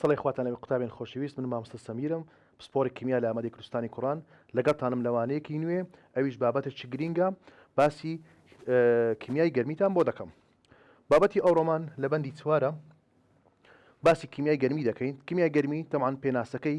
سڵی خواتان لەوی قوتابێن خۆشەویست من مامستە سەمیرم پسپۆری کیمیا لە ئامادەی کوردستانی کوڕان لەگەڵتانم لەوانەیەکی نوێ ئەویش بابەتە چ گرینگە باسی کیمیای گەرمیتان بۆ دەکەم بابەتی ئەو ڕۆمان لە بەندی چوارە باسی کیمیای گەرمی دەکەین کیمیای گەرمی تەمان پێناسەکەی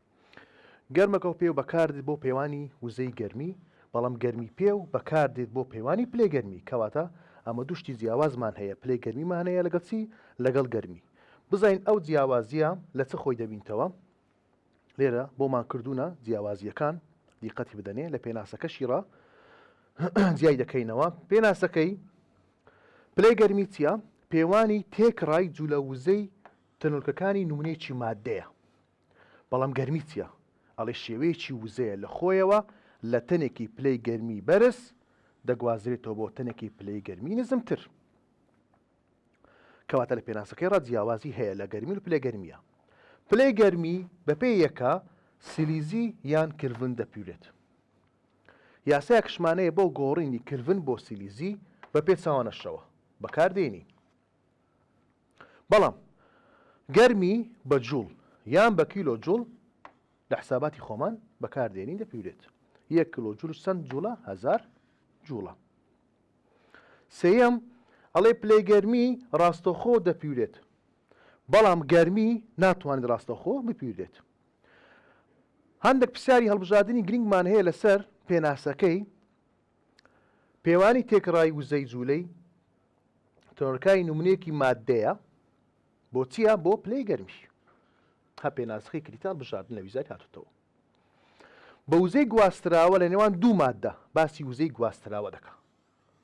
گەرمەکەو پێو بەکاردێت بۆ پێوانی وزەی گەرمی، بەڵام گەرمی پێو بەکاردێت بۆ پێوانی پلەی گەرمی، کەواتە ئەمە دوو شتی جیاوازمان هەیە پلەی گەرمیمان هەیە لەگەڵ چی؟ لەگەڵ گەرمی. بزانین ئەو جیاوازییە لە چ خۆی دەبینتەوە؟ لێرە بۆمان کردوونە جیاوازییەکان، دیقەتی بدەنێ لە پێناسەکەشی ڕا جیای دەکەینەوە، پێناسەکەی پلەی گەرمی چییە؟ پێوانی تێکڕای جوولە وزەی تەنۆلکەکانی نمونەیەکی ماددەیە. بەڵام گەرمی چیە؟ ئەڵێ شێوەیەکی وزەیە لە خۆیەوە لە تەنێکی پلەی گەرمی بەرز دەگوازرێتەوە بۆ تەنێکی پلەی گەرمی نزمتر. کەواتە لە پێناسەکەی ڕا جیاوازی هەیە لە گەرمی و پلەی گەرمیە. پلەی گەرمی بەپێ یەکە سیلیزی یان کلڤن دەپیورێت. یاسای کشمانەیە بۆ گۆڕینی کلڤن بۆ سیلیزی بە پێچاوانەشەوە بەکار دێنی. بەڵام گەرمی بە جوڵ یان بە کیلۆ جوڵ لە حساباتی خۆمان بەکاردێنین دەپیورێت یەک کلۆ جلو چەند جوڵە هزار جوڵە سێەم ئەڵێ پلەی گەرمی ڕاستەخۆ دەپیورێت بەڵام گەرمی ناتوانێت ڕاستەخۆ بپیورێت هەندێک پرسیاری هەڵبژاردننی گرنگمان هەیە لەسەر پێناسەکەی پێوانی تێکڕای وزەی جوولەی تەنۆرکای نمونەیەکی ماددەیە بۆ چییە بۆ پلەی گەرمیش هە پێناسخی کریتال بژاردن لە ویزای هاتوتەوە بە وزەی گواستراوە لە نێوان دوو ماددە باسی وزەی گواستراوە دەکە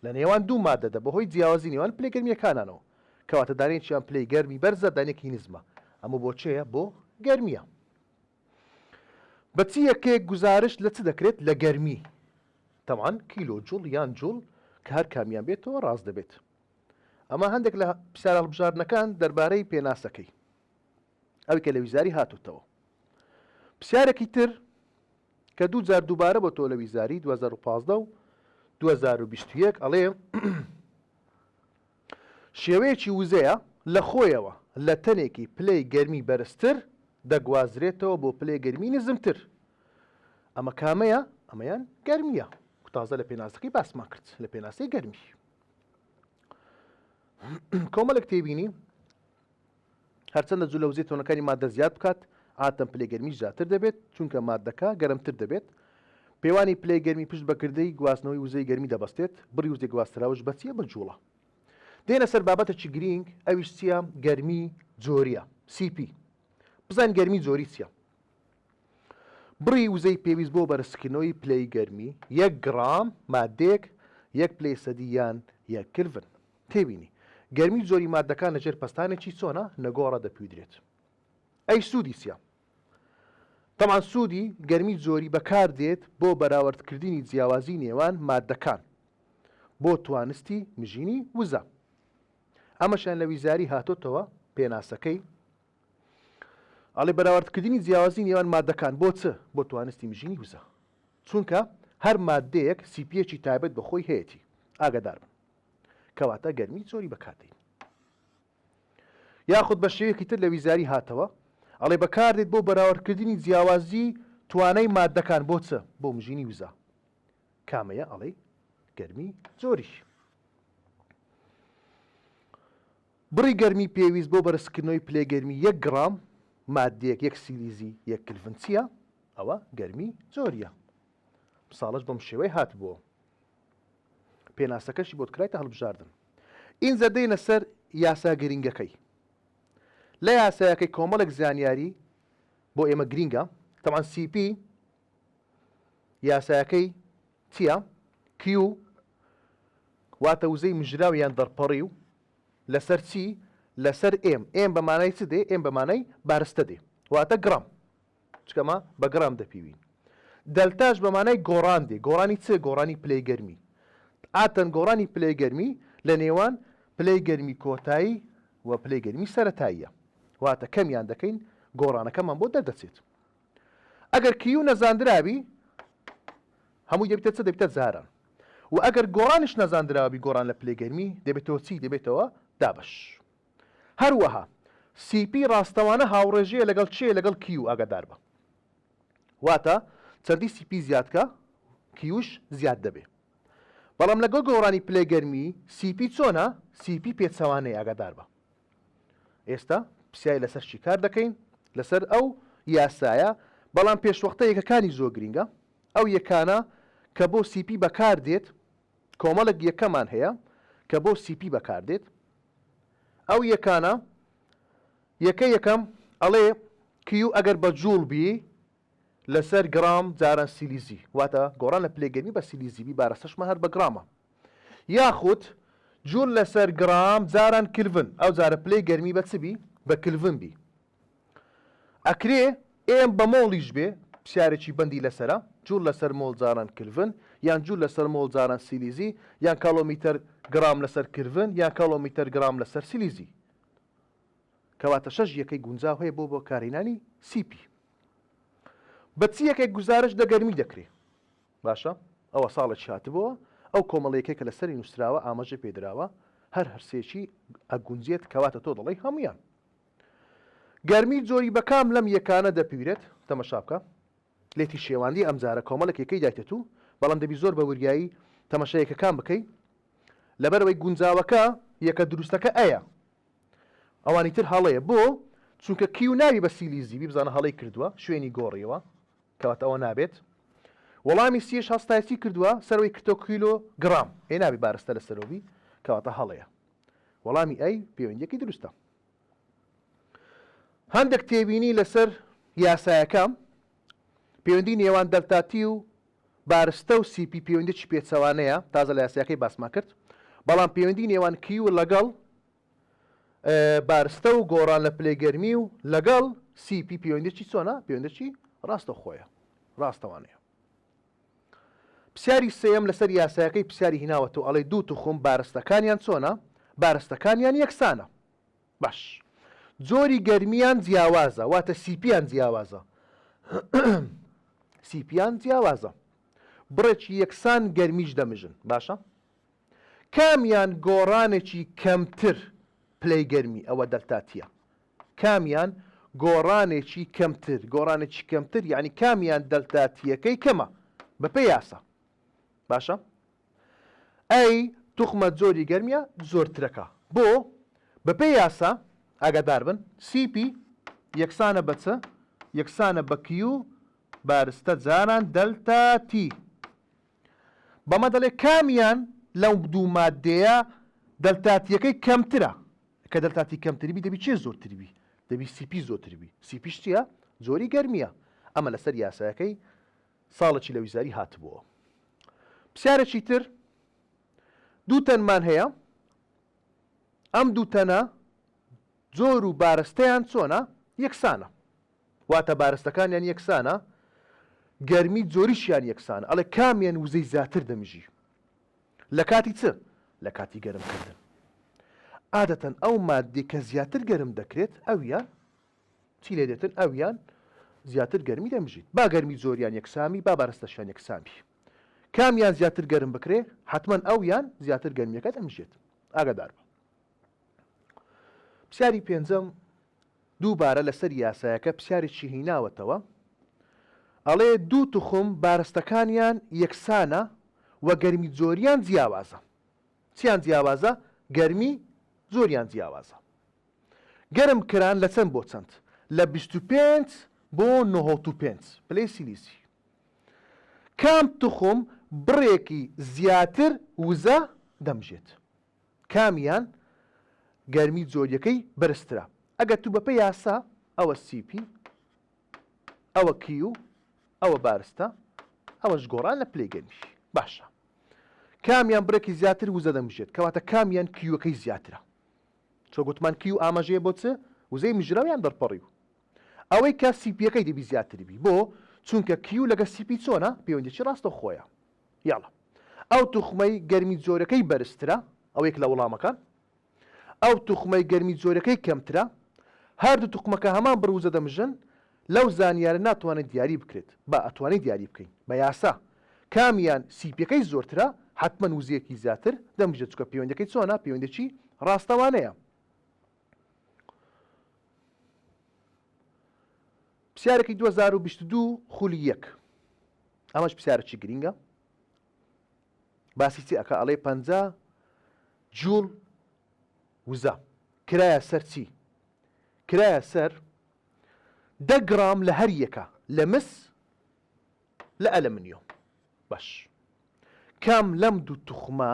لە نێوان دوو مادەدە بەهۆی جیاوازی نێوان پلەی گەرمیەکانانەوە کەواتە دانێکیان پلەی گەرمی بەرزە دانێکی نزمە ئەمە بۆچەیە بۆ گەرمیە بە چ یەکەیەک گوزارشت لە چ دەکرێت لە گەرمی؟ تەبعەن کیلۆ جوڵ یان جوڵ کە هەر کامیان بێتەوە ڕاست دەبێت. ئەمە هەندێک لە پرسیارە هەڵبژاردنەکان دەربارەی پێناسەکەی ئەوی کە لە ویزاری هاتوتەوە. پرسیارێکی تر کە دوو جار دووبارە بۆ تۆ لە ویزاری 2015 و 2021 ئەڵێ شێوەیەکی وزەیە لە خۆیەوە لە تەنێکی پلەی گەرمی بەرزتر دەگوازرێتەوە بۆ پلەی گەرمی نزمتر ئەمە کامەیە ئەمەیان گەرمیە تازە لە پێناسەکەی باسمان کرد لە پێناسەی گەرمی کۆمەلک تێبینی هەرچەندە جلەوزی تۆنەکانی ماددە زیاد بکات، عادەتەن پلەی گەرمیی زیاتر دەبێت، چونکە ماددەکە گەرمتر دەبێت. پێوانی پلەی گەرمی پشت بە کردەی گواستنەوەی وزەی گەرمی دەبەستێت، بڕی وزەی گواستراوش بە چییە؟ بە جووڵە. دێینە سەر بابەتێکی گرینگ، ئەویش چییە؟ گەرمیی جۆرییە، سی پی. بزانین گەرمیی جۆری چییە؟ بڕی وزەی پێویست بۆ بەرزکردنەوەی پلەی گەرمی، یەک گڕام ماددەیەک، یەک پلەی سەدی یان یەک کلڤن. تێبینی، گەرمی جۆری ماددەکان لە ژێر پەستانێکی چۆنە نەگۆڕە دەپیودرێت. ئەی سوودی چیە؟ تەبعەن سوودی گەرمی جۆری بەکاردێت بۆ بەراوردکردنی جیاوازی نێوان ماددەکان بۆ توانستی مژینی وزە. ئەمەشیان لە ویزاری هاتۆتەوە پێناسەکەی ئەڵێ بەراوردکردنی جیاوازی نێوان ماددەکان بۆ چ بۆ توانستی مژینی وزە چونکە هەر ماددەیەک سیپیەکی تایبەت بە خۆی هەیەتی ئاگادار بن. کەواتە گەرمی زۆری بەکاردێین. یاخود بە شێوەیەکی تر لە ویزاری هاتەوە ئەڵێ بەکاردێت بۆ بەراوردکردنی جیاوازی توانای ماددەکان بۆ چ؟ بۆ مژینی وزە. کامەیە ئەڵێی گەرمی زۆریش. بڕی گەرمی پێویست بۆ بەرزکردنەوەی پلەی گەرمی یەک گڕام ماددێک یەک سیلیزی یەک کلڤن چییە؟ ئەوە گەرمی زۆریە. ساڵش بەم شێوەی هاتبووە. پێناسەکەشی بۆت کرایتە هەڵبژاردن. ئینجا دێینە سەر یاسا گرینگەکەی. لە یاسایەکەی کۆمەڵێک زانیاری بۆ ئێمە گرینگە، تەبعەن سی پی یاسایەکەی چییە؟ کیو واتە وزەی مژراو یان دەرپەڕی و لەسەر چی؟ لەسەر ئێم، ئێم بە مانای چ دێ؟ ئێم بە مانای بارستە دێ، واتە گڕام. چونکە ما بە گڕام دەپیوین. دەلتاش بە مانای گۆڕان دێ، گۆڕانی چ؟ گۆڕانی پلەی گەرمی. عادەتەن گۆڕانی پلەی گەرمی لە نێوان پلەی گەرمی کۆتایی و پلەی گەرمی سەرەتاییە. واتە کەمیان دەکەین گۆڕانەکەمان بۆ دەردەچێت. ئەگەر کیو نەزاندرابی هەمووی دەبیتە چ؟ دەبیتە جاران. وە ئەگەر گۆڕانیش نەزاندراوبی گۆڕان لە پلەی گەرمی دەبێتەوە چی؟ دەبێتەوە دابەش. هەروەها سی پی ڕاستەوانە هاوڕێژەیە لەگەڵ چێ لەگەڵ کیو ئاگاداربە واتە چەندی سی پی زیادکە کیوش زیاد دەبێ بەڵام لەگەڵ گۆڕانی پلەی گەرمی سی پی چۆنە سی پی پێچەوانەی ئاگاداربە ئێستا پسیای لەسەر چی کار دەکەین لەسەر ئەو یاسایە بەڵام پێشوەختە یەکەکانی زۆر گرینگە ئەو یەکانە کە بۆ سی پی بەکار دێت کۆمەڵێک یەکەمان هەیە کە بۆ سی پی بەکار دێت ئەو یەکانە یەکە یەکەم ئەڵێ کیو ئەگەر بە جوڵ بی لەسەر گڕام جاران سیلیزی واتە گۆڕان لە پلەی گەرمی بە سیلیزی بی بارەسەشمان هەر بە گڕامە یاخود جوول لەسەر گڕام جاران کلڤن ئەو جارە پلەی گەرمی بە چ بی بە کلڤن بی ئەکرێ ئێم بە مۆڵیش بێ پسیارێکی بەندی لەسەرە، جوول لەسەر مۆڵ جاران کلڤن، یان جوول لەسەر مۆڵ جاران سیلیزی، یان کالۆمیتەر گرام لەسەر کلڤن، یان کالۆمیتەر گرام لەسەر سیلیزی. کەواتە شەش یەکەی گونجاو هەیە بۆ بەکارهێنانی سی پی. بە چ یەکێک گوزارش لە گەرمی دەکرێ؟ باشە ئەوە ساڵێکی هاتبۆوە ئەو کۆمەڵە یەکەی کە لەسەری نووسراوە ئاماژەی پێدراوە هەر هەرسێکی ئەگونجێت کەواتە تۆ دەڵێی هەموویان گەرمی جۆری بەکام لەم یەکانە دەپیورێت؟ تەمەشا بکە لێتی شێواندی ئەمجارە کۆمەڵێک یەکەی دایتەتوو بەڵام دەبی زۆر بە وریایی تەمەشا یەکەکان بکەی لەبەرەوەی گونجاوەکە یەکە دروستەکە ئەیە ئەوانی تر هەڵەیە بۆ چونکە کیو ناوی بە سیلیزی بیبزانە هەڵەی کردووە شوێنی گۆڕیەوە کەواتە ئەوە نابێت وەڵامی سیش هەستایسی کردووە سەرەوەی کتۆ کیلۆ گرام ئێ نابی بارستە لە سەرۆبی کەواتە هەڵەیە وەڵامی ئەی پەیوەندیەکەی دروستە هەندێک تێبینی لەسەر یاسایەکەم، پێوەندی نێوان دەلتاتی و بارستە و سی پی پێوەندیی پێچەوانەیە، تازە لە یاسایەکەی باسمان کرد، بەڵام پێوەندی نێوان کیو لەگەڵ بارستە و گۆڕان لە پلەی گەرمی و لەگەڵ سی پی پێوەندیی چۆنە؟ پێوەندیی ڕاستەوخۆیە، ڕاستەوانەیە. پسیاری سێیەم لەسەر یاسایەکەی پسیاری هیناوەتەوە ئەڵێ دوو توخم بارستەکانیان چۆنە بارستەکانیان یەکسانە باش جۆری گەرمیان جیاوازە واتە سیپیان جیاوازە سیپیان جیاوازە بڕێکی یەکسان گەرمیش دەمژن باشە کامیان گۆڕانێکی کەمتر پلەی گەرمی ئەوە دەلتاتیە کامیان گۆڕانێکی کەمتر، گۆڕانێکی کەمتر یانی کامیان دەلتا تییەکەی کەمە بەپێی یاسا. باشە؟ A توخمە جۆری گەرمیە زۆرترەکە. بۆ؟ بەپێی یاسا، ئاگادار بن، CP یەکسانە بە چ؟ یەکسانە بە Q بارستە جاران دەلتا T. بەمە دەڵێ کامیان لەو دوو ماددەیە دەلتاتییەکەی کەمترە، کە دەلتاتی کەمتربی دەبی چێ زۆرتربی دەبی سیپی زۆتربی سیپیش چییە جۆری گەرمیە ئەمە لەسەر یاسایەکەی ساڵێکی لە ویزاری هاتبووە پرسیارێکی تر دوو تەنمان هەیە ئەم دوو تەنە جۆر و بارستەیان چۆنە یەکسانە واتە بارستەکانیان یەکسانە گەرمی جۆریشیان یەکسانە ئەڵێ کامیان وزەی زاتر دەمژی لەکاتی چ لەکاتی گەرم کردن عادەتەن ئەو ماددی کە زیاتر گەرم دەکرێت ئەویان چی لێ دێتن ئەویان زیاتر گەرمی دەمژیت با گەرمی جۆریان یەکسامی با بارستەشیان یەکسامی کامیان زیاتر گەرم بکرێ حتمما ئەویان زیاتر گەرمیەکە دەمژێت ئاگدار بە پرسیاری پێنجەم دووبارە لەسەر یاسایەکە پرسیارێکی هیناوەتەوە ئەڵێ دوو توخم بارستەکانیان یەکسانە و گەرمی جۆریان جیاوازە چیان جیاوازە گەرمی زۆریان جیاوازە گەرم کران لە چەند بۆ چەند لە 25 بۆ 95 پلەی سیلیسی کام توخم بڕێکی زیاتر وزە دەمژێت کامیان گەرمی جۆریەکەی بەرزترە ئەگەر تو بەپێ یاسا ئەوە سیپی ئەوە کیو ئەوە بارستە ئەوەش گۆڕان لە پلەی گەرمیش باشە کامیان بڕێکی زیاتر وزە دەمژێت کەواتە کامیان کیوەکەی زیاترە چۆ گوتمان کیو ئاماژەیە بۆ چ وزەی مژراویان دەرپەڕی و ئەوەی کە سیپیەکەی دەبی زیاتر بی بۆ چونکە کیو لەگە سیپی چۆنە پەیوەندێکی ڕاستەوخۆیە یاڵا. ئەو توخمەی گەرمی جۆرەکەی بەرزترە، ئەوە یەک لە وڵامەکان. ئەو توخمەی گەرمی جۆرەکەی کەمترە، هەردوو توخمەکە هەمان بڕووجە دەمژن، لەو زانیارە ناتوانێت دیاری بکرێت، با ئەتوانین دیاری بکەین، بە یاسا، کامیان سیپیەکەی زۆرترە، حەتمەن وزەیەکی زیاتر دەمژێت، چونکە پەیوەندیەکەی چۆنە، پەیوەندیەکی ڕاستەوانەیە. پرسیارێکی دوو هەزار و بیست و دوو خولی یەک. ئەمەش پسیارەکی گرینگە باسی چی ئەکا ئەڵێ پەنجا جوڵ وزە کرایە سەر چی کرایە سەر دە گرام لە هەر یەکە لە مس لە ئەلەمنیۆم باش کام لەم دوو توخمە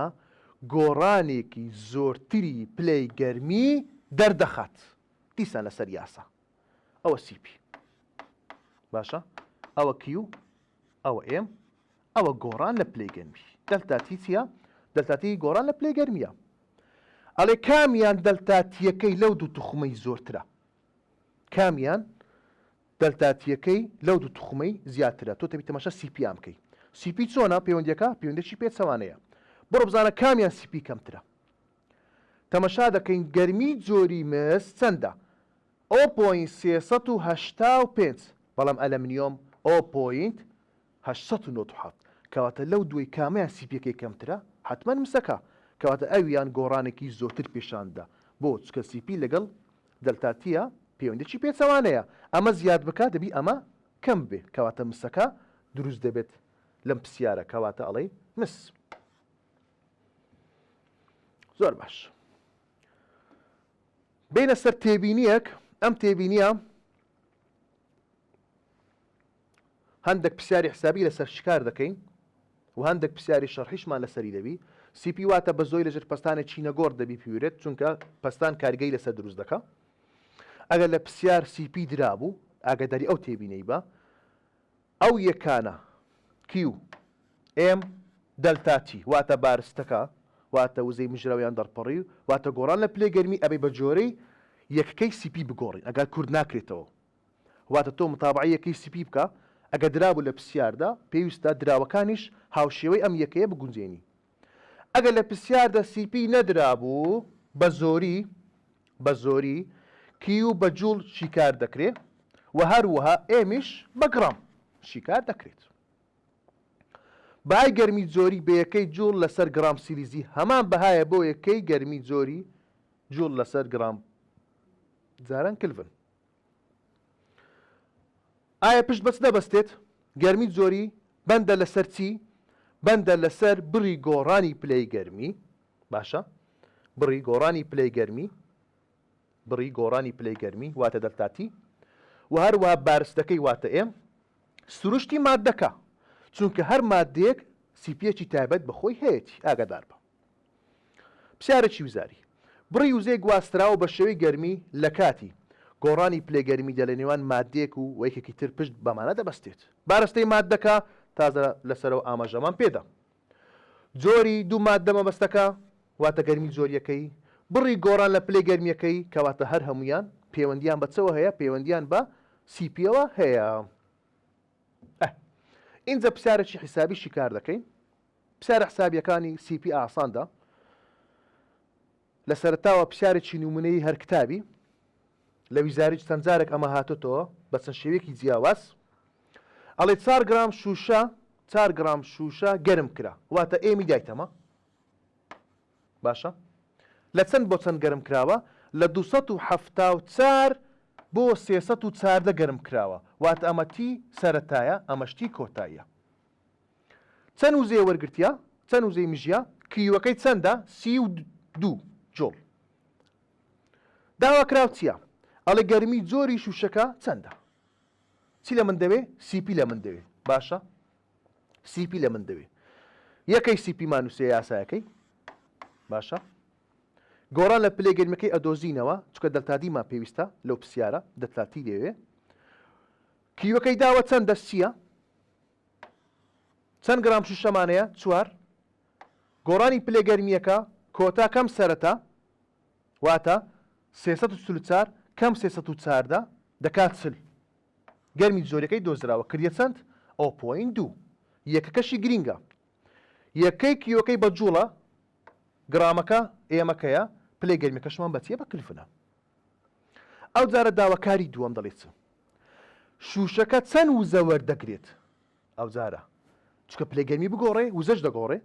گۆڕانێکی زۆرتری پلەی گەرمی دەردەخات دیسان لەسەر یاسا ئەوە سی پی باشە ئەوە کیو ئەوە ئێم ئەوە گۆڕان لە پلەی گەرمی دەلتا تی چییە دەلتا تی گۆڕان لە پلەی گەرمیە ئەڵێ کامیان دەلتا تیەکەی لەو دوو توخمەی زۆرترە کامیان دەلتا تیەکەی لەو دوو توخمەی زیاترە تۆ تەبی تەماشا سی پی ئامکەی سی پی چۆنە پەیوەندیەکە پەیوەندێکی پێچەوانەیە بڕۆ بزانە کامیان سی پی کەمترە تەمەشا دەکەین گەرمی جۆری مس چەندە، ئۆ پۆینت سێ سەد و هەشتا و پێنج، بەڵام ئەلەمنیۆم ئۆ پۆینت هەشت سەد و نەوەد و حەوت، کەواتە لەو دووەی کامیان سی پێکەی کەمترە؟ حەتمەن مسەکە، کەواتە ئەویان گۆڕانێکی زۆرتر پیشان دەدا، بۆ؟ چونکە سی پی لەگەڵ دەلتا تییە پەیوەندیەکی پێچەوانەیە، ئەمە زیاد بکا دەبی ئەمە کەم ببێ، کەواتە مسەکە دروست دەبێت لەم پسیارە، کەواتە ئەڵێی مس. زۆر باش بینە سەر تێبینیەک ئەم تێبینیە هەندێک پرسیاری حسابی لەسەر شکار دەکەین و هەندێک پرسیاری شەڕحیشمان لەسەری دەبی سیپی واتە بە زۆی لەژێر پستانە چینەگۆڕ دەبی پیورێت چونکە پستان کارگەی لەسەر دروست دەکە ئەگەر لە پرسیار سیپی درابوو ئاگداری ئەو تێبینەی بە ئەو یەکانە، کیو، ئێم، دەلتا، تی، واتە بارستەکە، واتە وزەی مژراویان دەڕپەڕی، واتە گۆڕان لە پلەی گەرمی ئەبێ بە جۆرەی یەکەکەی سی پی بگۆڕین ئەگار کورت ناکرێتەوە، واتە تۆ متابەعەی یەکەی سی پی بکە ئەگە درابوو لە پسیاردا پێویستە دراوەکانیش هاوشێوەی ئەم یەکەیە بگونجێنی. ئەگەر لە پرسیاردا سی پی نەدرابوو بە زۆری بە زۆری کیو بە جوڵ شیکار دەکرێ و هەروەها ئێمیش بە گڕام شیکار دەکرێت. بەهای گەرمی جۆری بە یەکەی جوڵ لەسەر گڕام سیلیزی هەمان بەهایە بۆ یەکەی گەرمی جۆری جوڵ لەسەر گڕام جاران کلڤن. ئایا پشت بەچ دەبەستێت؟ گەرمی جۆری، بەندە لەسەر چی؟ بەندە لەسەر بڕی گۆڕانی پلەی گەرمی. باشە. بڕی گۆڕانی پلەی گەرمی. بڕی گۆڕانی پلەی گەرمی واتە دەلتا تی. و هەروەها بارستەکەی واتە ئێم. سروشتی ماددەکە. چونکە هەر ماددەیەک سیپیەکی تایبەت بە خۆی هەیەتی. ئاگادار بە. پرسیارێکی وزاری، بڕی وزەی گواستراو بە شێوەی گەرمی لە کاتی، گۆڕانی پلەی گەرمی دە لە نێوان ماددەیەک و و یەکێکی تر پشت بەمانە دەبەستێت بارستەی ماددەکە تازە لە سەرەوە ئاماژەمان پێدا جۆری دوو ماددە مەبەستەکە واتە گەرمی جۆر یەکەی بڕی گۆڕان لە پلەی گەرمیەکەی کەواتە هەر هەمویان پەیوەندیان بە چەوە هەیە پەیوەندیان بە سیپیەوە هەیە ئه ئینجا پرسیارێکی حیسابی شیکار دەکەین پسارە حسابیەکانی سی پی ئاسان دا لە سەرەتاوە پسارێکی نمونەیی هەر کتابی لە ویزاریج چەند جارێک ئەمە هاتۆتەوە بە چەند شێوەیەکی جیاواز ئەڵێ چار گرام شوشە چار گرام شوشە گەرم کرا واتە ئێمی دایتەمە باشە لە چەند بۆ چەند گەرم کراوە لە 274 بۆ 314 گەرم کراوە واتە ئەمە تی سەرەتایە ئەمەشتی کۆتاییە چەن وزەیە وەرگرتیە؟ چەن وزەی مژیە؟ کریوەکەی چەندە؟ سی و دوو جۆڵ. داواکراو چیە؟ ئەڵێ گەرمی جۆری شوشەکە چەندە؟ چی لە من دەوێ؟ سیپی لە من دەوێ. باشە؟ سیپی لە من دەوێ. یەکەی سیپی مانوسێ یاسایەکەی. باشە؟ گۆڕان لە پلەی گەرمەکەی ئەدۆزینەوە چکە دەلتادیمان پێویستە لەو پسیارە دەتلاتی لێوێ. کیوەکەی داوە چەندە سیە؟ چەند گرام شوشەمانەیە چوار. گۆڕانی پلە گەرمییەکە کۆتا کەم سەرەتا واتە سێ سەد و چل و چار کەم سێ سەد و چاردە دەکات چل. گەرمی جۆریەکەی دۆزراوە کردیە چەند؟ ئەو پۆین دوو. یەکەکەشی گرینگە. یەکەی کیۆکەی بە جوڵە، گرامەکە ئێمەکەیە، پلەی گەرمیەکەشمان بە چیە بە کلفنە. ئەوجارە داواکاری دووەم دەڵێ چ؟ شوشەکە چەند وزە وەردەگرێت ئەوجارە چکە پلەی گەرمی بگۆڕێ وزەش دەگۆڕێ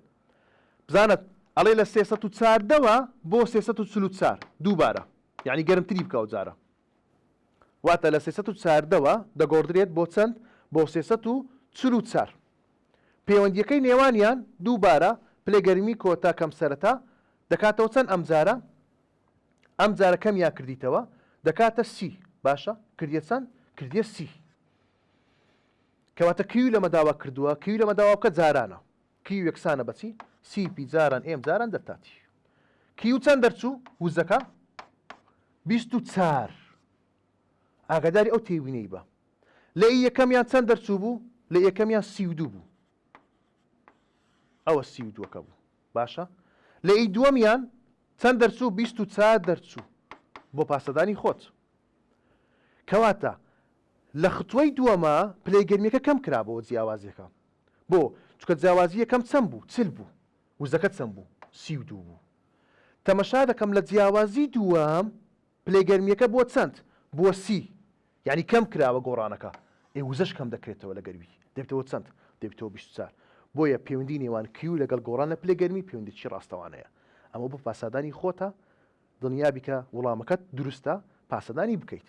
بزانە ئەڵێ لە سێسە و چاردەوە بۆ سێسە و چلو چار دووبارە یعنی گەرمتری بکە ئەوجارە واتە لە سێسە و چاردەوە دەگۆڕدرێت بۆ چەند بۆ سێسە و چلو چار پەیوەندیەکەی نێوانیان دووبارە پلەگەرمی کۆتا کەم سەرەتا دەکاتەوە چەند ئەمجارە ئەم جارە کەمیان کردیتەوە دەکاتە سی باشە کردیە چەند کردیە سی کەواتە کیو لەمە داوا کردووە کیو لەمە داوا بکە جارانە کیو یەکسانە بەچی سی پی جاران ئێم جاران دەرتاتی کیو چەند دەرچوو وزەکە بیست و چار ئاگاداری ئەو تێوینەی بە لە ئی یەکەمیان چەند دەرچوو بوو لە یەکەمیان سی و دوو بوو ئەوە سی و دووەکە بوو باشە لە ی دووەمیان چەند دەرچوو بیست و چار دەرچوو بۆ پاسەدانی خۆت کەواتە لە ختوەی دووەما پلەی گەرمیەکە کەم کرابۆوە جیاوازیەکە بۆ چکە جیاوازی یەکەم چەند بوو چل بوو وزەکە چەند بوو سی و دوو بوو تەمەشا دەکەم لە جیاوازی دووەم پلەی گەرمیەکە بۆ چەند بووە سی یانی کەم کراوە گۆڕانەکە ئێ وزەش کەم دەکرێتەوە لەگەر وی دەبێتەوە چەند؟ دەبێتەوە بیست و چار بۆیە پێوەندی نێوان کیو لەگەڵ گۆڕان لە پلەی گەرمی پێوەندیی ڕاستەوانەیە ئەمە بۆ پاسادانی خۆتە دڵنیابی کە وڵامەکەت دروستە پاسەدانی بکەیت.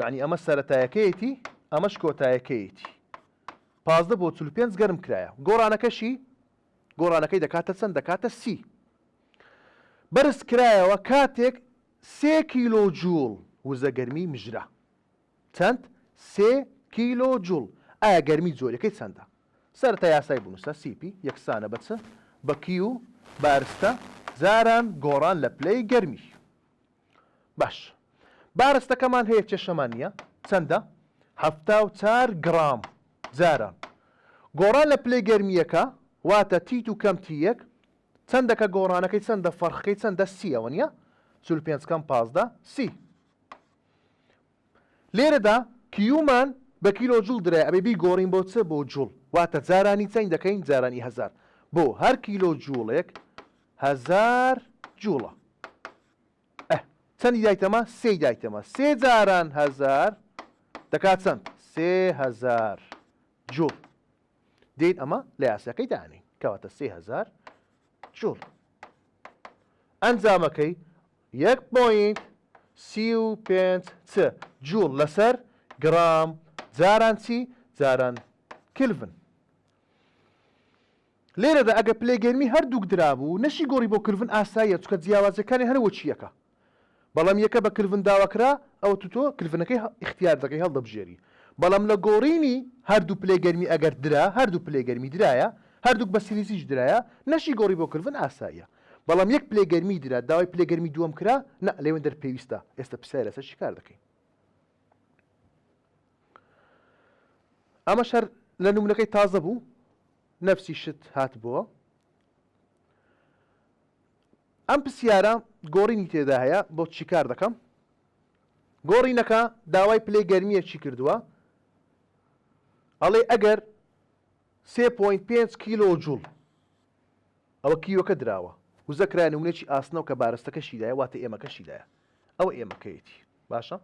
یەعنی ئەمە سەرەتایەکەیەتی ئەمەش کۆتایەکەیەتی پازدە بۆ چل و پێنج گەرم کرایە گۆڕانەکەشی گۆڕانەکەی دەکاتە چەند دەکاتە سی بەرز کرایەوە کاتێک سێ کیلۆ جوڵ وزە گەرمی مژرا چەند سێ کیلۆ جوڵ ئایا گەرمی جۆرەکەی چەندە سەرتا یاسای بنووسە سیپی یەکسانە بە چ بە کیو بارستە جاران گۆڕان لە پلەی گەرمی باش بارستەکەمان هەیە کێشەمان نییە چەندە حەفتا و چار گڕام جاران گۆڕان لە پلەی گەرمییەکە واتە تیت و کەم تی یەک چەندەکە گۆڕانەکەی چەندە فەرخەکەی چەندە سیەوە نیە چل پێنج کەم پازدە سی لێرەدا کیومان بە کیلۆ جوڵ درایە ئەبێ بیگۆڕین بۆ چ؟ بۆ جوڵ واتە جارانی چەند دەکەین جارانی هەزار بۆ هەر کیلۆ جوڵێک هەزار جوڵە ئە چەندی دایتەمە سێی دایتەمە سێ جاران هەزار دەکات چەند سێ هەزار جوڵ دێت ئەمە لە یاساکەی دانین کەواتە سێ هەزار جوڵ ئەنجامەکەی یەک پۆینت سی و پێنج چ جووڵ لەسەر گڕام، جاران چی؟ جاران کلڤن. لێرەدا ئەگەر پلەی گەرمی هەردووک درابوو، نەشی گۆڕی بۆ کلڤن ئاساییە، چونکە جیاوازییەکانیان هەر وەکی یەکە. بەڵام یەکە بە کلڤن داواکرا، ئەوەتو تۆ کلڤنەکەی ئیختیار دەکەی، هەڵدەبژێری. بەڵام لە گۆڕینی هەردوو پلەی گەرمی ئەگەر درا، هەردوو پلەی گەرمی درایە، هەردووک بە سیلیزیش درایە، نەشی گۆڕی بۆ کلڤن ئاساییە. بەڵام یەک پلەی گەرمی درا داوای پلەی گەرمی دووەم کرا نا لەوێن دەر پێویستە ئێستا پرسیاری لەسەر چی کار دەکەین ئەمە شەر لە نمونونەکەی تازە بوو نەفسی شت هات بووە ئەم پرسیارە گۆڕینی تێدا هەیە بۆ چی کار دەکەم گۆڕینەکە داوای پلەی گەرمیە چی کردووە ئەڵێ ئەگەر سێ پۆینت پێنج کیلۆ جوڵ ئەوە کیوەکە دراوە وزە کرایە نمونەیەکی ئاسنەوە کە بارستەکەشی لایە واتە ئێمەکەشی لایە ئەوە ئێمەکەیەتی باشە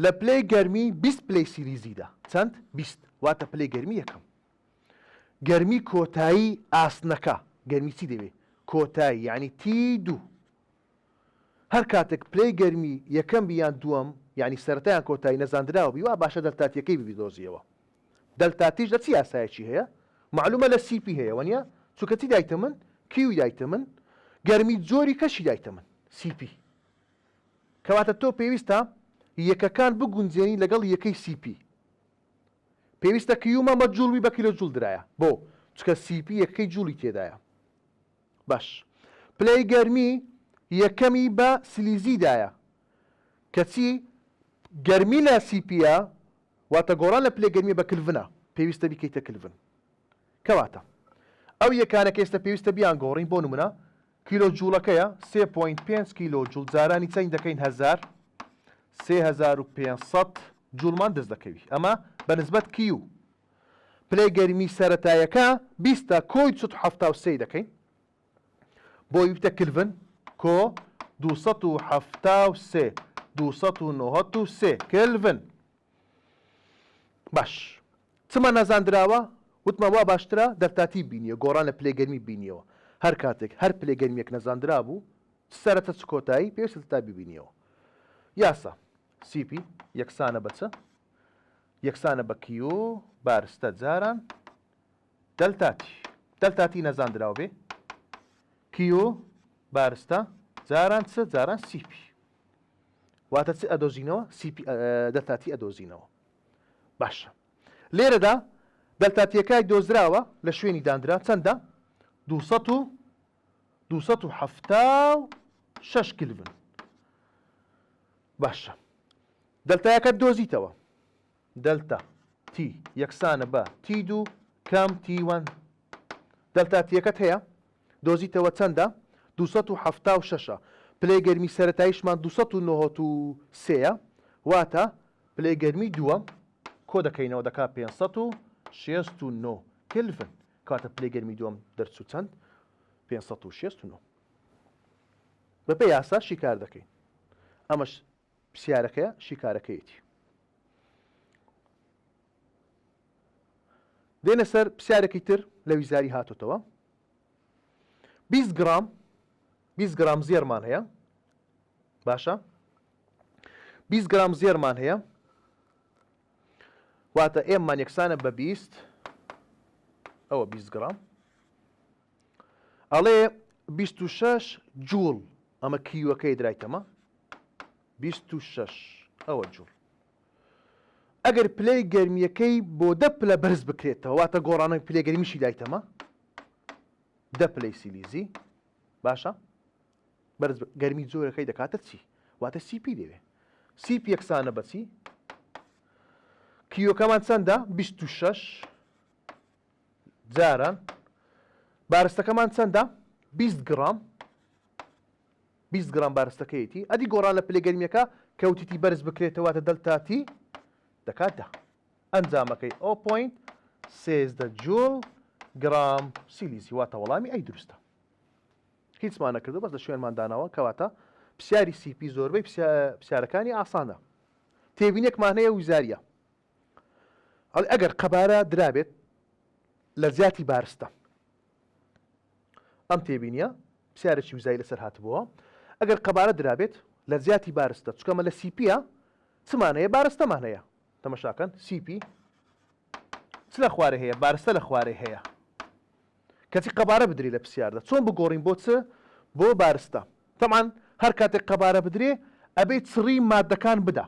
لە پلەی گەرمی 20 پلەی سیریزیدا چەند 20 واتە پلەی گەرمی یەکەم گەرمی کۆتایی ئاسنەکە گەرمی چی دەوێ کۆتایی یعنی تی دوو هەر کاتەک پلەی گەرمی یەکەم بی یان دووەم یانی سەرەتا یان کۆتایی نەزاندراو بی وا باشە دەلتا تیەکەی ببیدۆزیەوە دەلتا تیش لە چ یاسایەکی هەیە مەعلومە لە سی پی هەیە وەنیە چونکە چی دایتە من کیوی دایتە من گەرمی جۆری کەشی دایتە من سی پی کەواتە تۆ پێویستە یەکەکان بگونجێنی لەگەڵ یەکەی سی پی پێویستە کیومە مە جوڵوی بە کیلۆ جوڵ درایە بۆ چکە سی پی یەکەی جوڵی تێدایە باش پلەی گەرمی یەکەمی بە سلیزی دایە کەچی گەرمی لە سیپیە واتە گۆڕان لە پلەی گەرمی بە کلڤنە پێویستە بیکەیتە کلڤن کەواتە ئەو یەکانە کە ئێستا پێویستە بیان گۆڕین بۆ نمونە کیلۆ جوڵەکەیە 3.5 کیلۆ جوڵ جارانی چەند دەکەین هزار 3500 جوڵمان دەست دەکەوی ئەمە بە نسبەت کیو پلەی گەرمی سەرەتایەکە بیست تا کۆی دوو سەد و حەفتا و سێ ی دەکەین بۆ ی بتە کلڤن کۆ دوو سەد و حەفتا و سێ دوو سەد و نەوەد و سێ کلڤن باش چما نازاندراوە وتمان وا باشترە دەرتاتی بینیە گۆڕان لە پلەی گەرمی بینیەوە هەر کاتێک هەر پلەی گەرمیەک نەزاندرابوو سەرەتا چ کۆتایی پێویستە تا ببینیەوە یاسا CP یەکسانە بە چ؟ یەکسانە بە کیو بارستە جاران دەلتاتی دەلتاتی نەزاندراو بێ کیو بارستە جاران چ جاران CP واتە چ ئەدۆزینەوە CP دەلتاتی ئەدۆزینەوە باشە لێرەدا دەلتاتیەکای دۆزراوە لە شوێنی دانرا چەندە 200 دوو سەد و حەفتا و شەش کلڤن باشە دەلتایەکەت دۆزیتەوە دەلتا تی یەکسانە بە تی دوو کام تیوان دەلتا تیەکەت هەیە دۆزیتەوە چەندە دوو سەد و حەفتا و شەشە پلەی گەرمی سەرەتاییشمان دوو سەد و نۆهۆت و سێیە واتە پلەی گەرمی دووەم کۆ دەکەینەوە دەکا پێنج سەد و شێست و نۆ کلڤن کاتە پلەی گەرمی دووەم دەرچوو چەند؟ پێنج سەد و شەست و نۆ. بەپێی یاسا شیکار دەکەین. ئەمەش پرسیارەکەیە شیکارەکەیەتی. دێنە سەر پرسیارێکی تر لە ویزاری هاتوتەوە. 20 گرام 20 گرام زێرمان هەیە باشە 20 گرام زێرمان هەیە واتە M مان یەکسانە بە بیست ئەوە بیست گڕام ئەڵێ بیست و شەش جووڵ ئەمە کیوەکەی درایتەمە بیست و شەش ئەوە جووڵ ئەگەر پلەی گەرمیەکەی بۆ دە پلە بەرز بکرێتەوە واتە گۆڕانەوەی پلێگەرمیشی دایتەمە دە پلەی سیلیزی باشە بەرز بە گەرمی جۆرەکەی دەکاتە چی واتە سیپی دەوێ سیپ یەکسانە بەچی کیۆکەمان چەندە 26 جاران بارستەکەمان چەندە 20 گرام 20 گرام بارستەکەیەتی ئەدی گۆڕان لە پلێ گەرمیەکە کەوتیتی بەرز بکرێتەوەتە دەلتاتی دەکاتدا ئەنجامەکەی ئەو پوینت سێزدە جوول گرام سیلیزی واتە وەڵامی ئەی دروستە هیچمان نەکردو بەس لە شوێنمان داناوە کەواتە پسیاری سیپی زۆربەی پسیارەکانی ئاسانە تێبینێکمان هەیە وزاریە ئەڵێ ئەگەر قەبارە درابێت لە زیاتی بارستە ئەم تێبینیە پسیارێکی وزای لەسەر هاتبووە ئەگەر قەبارە درابێت لە زیاتی بارستە چکەمە لە سیپیە چمان هەیە بارستەمان هەیە تەمەشاکەن سیپی چ لە خوارێ هەیە بارستە لە خوارێ هەیە کەچی قەبارە بدرێ لە پسیاردا چۆن بگۆڕین بۆ چ بۆ بارستە تەبعەن هەر کاتێک قەبارە بدرێ ئەبێ چڕی ماددەکان بدا